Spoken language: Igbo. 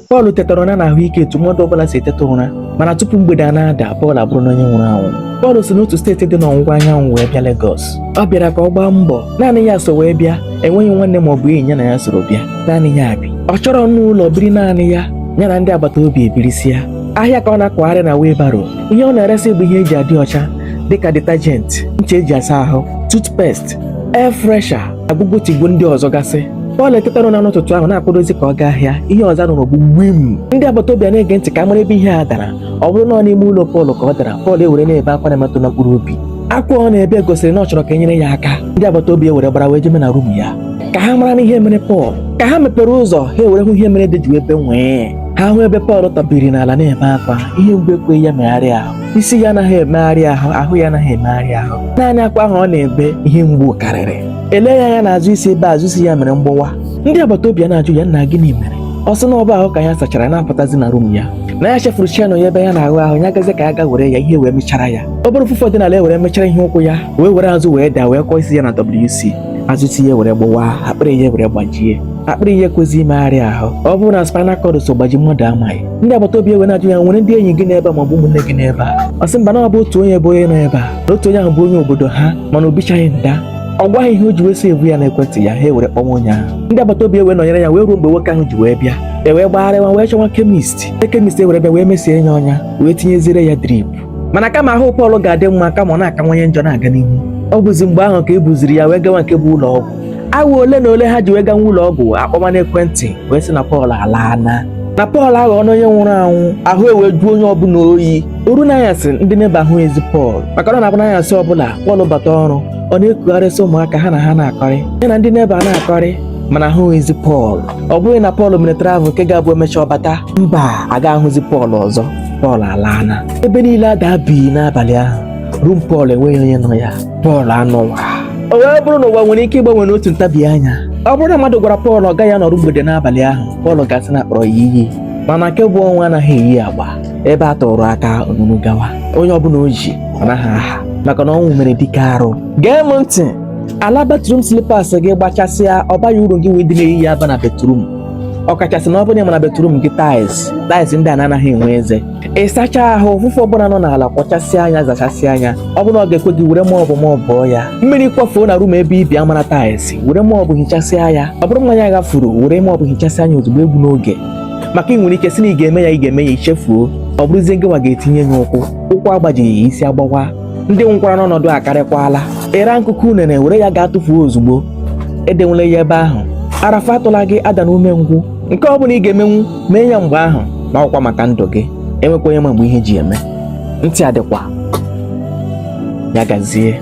Pọl tetara ụra n'ahụike etu mmadụ ọbụla si eteta ụra mana tupu mgbede a na-ada Pọl abụrụna onye nwụrụ anwụ Pọl si n'otu steeti dị n'ọwụwa anyanwụ wee bịa Legọs ọ bịara ka ọ gbaa mbọ naanị ya so wee bịa enweghị nwanne ma ọ bụ enyi ya na ya soro bịa naanị ya bi ọ chọrọ n'ụlọ biri naanị ya ya na ndị agbata obi ebirisia ahịa ka ọ na-akwagharị na wheelbarrow ihe ọ na-eresị bụ ihe e ji adị ọcha dịka detergent ncha e ji asa ahụ toothpaste air fresher agụgụ tigbuo ndị ọzọ gasị Pọl etetana ụra n'ụtụtụ ahụ na-akwadozi ka ọ gaa ahịa ihe ọzọ a nụrụ bụ gbim ndị agbata obi a na-ege ntị ka a mara ebe ihe a dara ọ bụrụ na ọ n'ime ụlọ Pọl ka ọ dara Pọl ewere na-ebe akwa na-emetụ na mkpụrụ obi akwa ọ na-ebe gosiri na ọ chọrọ ka e nyere ya aka ndị agbata obi ewere gbara wee jeme na rum ya ka ha mara na ihe mere Pọl ka ha mepere ụzọ ha ewere hụ ihe mere ede ji ebe nwịị ha hụ ebe Pọl tọbiri n'ala na-ebe akwa ihe mgbu ekweghị ya megharịa ahụ isi ya anaghị emegharị ahụ ahụ ya anaghị emegharị ahụ naanị akwa ahụ ọ na-ebe ihe mgbu karịrị e lee ya anya n'azụ isi ebe azụ isi ya mere mgbawa ndị agbata obi a na-ajụ ya nna gịnị mere ọ sị na ọ bụ ahụ ka ya sachara na-apụtazi na rum ya na ya chefuru chain ya ebe ya na-aghụ ahụ ya gazi ka ya ga were ya ihe wee mịchara ya ọ bụrụ ụfụfụ dị n'ala ewere mịchara ya ụkwụ ya wee were azụ wee daa wee kụọ isi ya na WC azụ isi ya were gbawa akpịrị ya were gbajie akpịrị ya ekwezi imegharị ahụ ọ bụrụ na spinal cord so gbaji mmadụ amaghị ndị agbata obi ewee na-ajụ ya nwere ndị enyi gị n'ebe a maọbụ ụmụnne gị n'ebe a ọ sị mba na ọ bụ otu onye bụ onye nọ ebe a na otu onye ahụ bụ onye obodo ha mana o bichaghị nda ọ gwa ha ihe o ji wee save ya n'ekwentị ya ha ewere kpọwa onye ahụ ndị agbata obi ewee nọnyere ya wee ruo mgbe nwoke ahụ ji wee bịa e wee gbagharịwa wee chọwa kemist ndị kemist ewere bịa wee mesie ya ọnya wee tinyeziere ya drip mana kama ahụ Pọl ga-adị mma kama ọ na-akawanye njọ na-aga n'ihu ọ bụzi mgbe ahụ ka e buziri ya wee gawa nke bụ ụlọ ọgwụ awa ole na ole ha ji wee gawa ụlọ ọgwụ a kpọma n'ekwentị wee sị na Pọl alaana na Pọl aghọọna onye nwụrụ anwụ ahụ ewee jụọ onye ọbụla oyi o ruo n'anyasị ndị neba ahụghịzi Pọl maka na ọ na-abụ n'anyasị ọbụla Pọl bata ọrụ ọ na-ekugharịsị ụmụaka ha na ha na-akọrị ya na ndị neba na-akọrị mana ahụghịzi Pọl ọ bụghị na Pọl mere travel nke ga-abụ e mechaa ọ bata mba aga ahụzi Pọl ọzọ Pọl alaana ebe niile ada bi n'abalị ahụ rum Pọl enweghị onye nọ ya Pọl anọwa o wee bụrụ na ụwa nwere ike ịgbanwe n'otu ntabi anya ọ bụrụ na mmadụ gwara Pọl ọ gaghị anọru mgbede n'abalị ahụ Pọl ga-asị na a kpọrọ ya iyi mana nke bụ ọnwụ anaghị eyi agba ebe a tụrụ aka o nuru gawa onye ọbụla o ji ọ naghị aha maka na ọnwụ mere dike arụ gee m ntị ala batrum slipas gị gbachasịa ọ baghị uru gịnwa ịdị na-eyi ya aba na batrum ọkachasị na ọ bụrụ na ị ma na batrum gị taịls taịls ndị a na-anaghị enwe eze ị sachaa ahụ ụfụfụ ọbụla nọ n'ala kwọchasịa ya zachasịa ya ọ bụrụ ọ ga-ekwe gị were mop mopụọ ya mmiri kwafuo na rum ebe i bi a mara taịls were mop hichasịa ya ọ bụrụ mmanya ghafuru were mop hichasịa ya ozugbo egbuna oge maka i nwere ike sị na ị ga-eme ya ị ga-eme ya i chefuo ọ bụrụzie gịnwa ga-etinye ya ụkwụ ụkwụ agbajighị ya isi agbawa ndị nwụkwara n'ọnọdụ a akarịkwala ị raa nkụkụ unere were ya gaa tụfuo ozugbo edewela ya ebe ahụ arafa atụla gị adana umengwụ nke ọ bụla ị ga-emenwu mee ya mgbe ahụ ma ọkwa maka ndụ gị enwekwa onye ma mgbe ihe ji eme ntị adịkwa ya gazie